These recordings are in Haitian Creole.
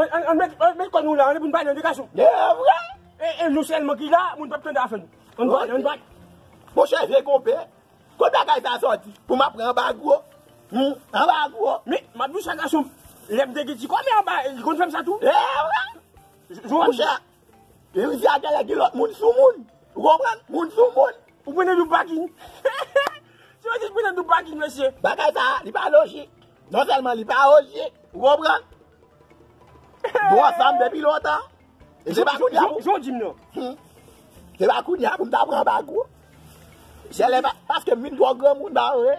An met kò nou la, an nou pou nou pale an de gason. E vre! E nou selman ki la, moun pap tande afè nou. An nou pale, an nou pale. Mon chè vye konpè, kote bagay sa soti? Pou m ap pran anba gwo? Hum, anba gwo? Men, m ap di w sa gason m, lè m te gen ti kòmè anba, li konn fè m sa tou. E vre! Mon chè, Louise a genlè gen lòt moun sou moun. Ou konprann? Moun sou moun. Ou pran nan dou paking. Se wè di pran nan dou paking mesye. Bagay sa a li pa lojik. Non sèlman li pa ojik. Ou konprann? Nou ansanm depi lontan. E se pa kounya pou. Jan w di m nan. Hum. Se pa kounya pou m ta pran bago. Genlè pa. Paske m vin twò granmoun ba vre.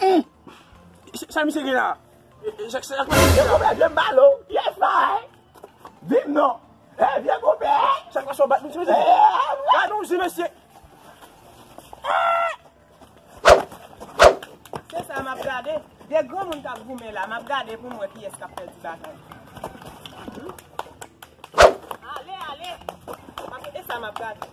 Humm! Sa misye gen la? Sa misye gen la? Vye konpè vye m balo! Yes my! Di m non! Hey vye konpè! Sa k pase yo bat misye mezanmi? Hey! Gad yon zi mesye! Se sa m ap gade! De granmoun k ap goumen la! M ap gade pou m wè kiyès k ap pèdi batay! Ale ale! E sa m ap gade!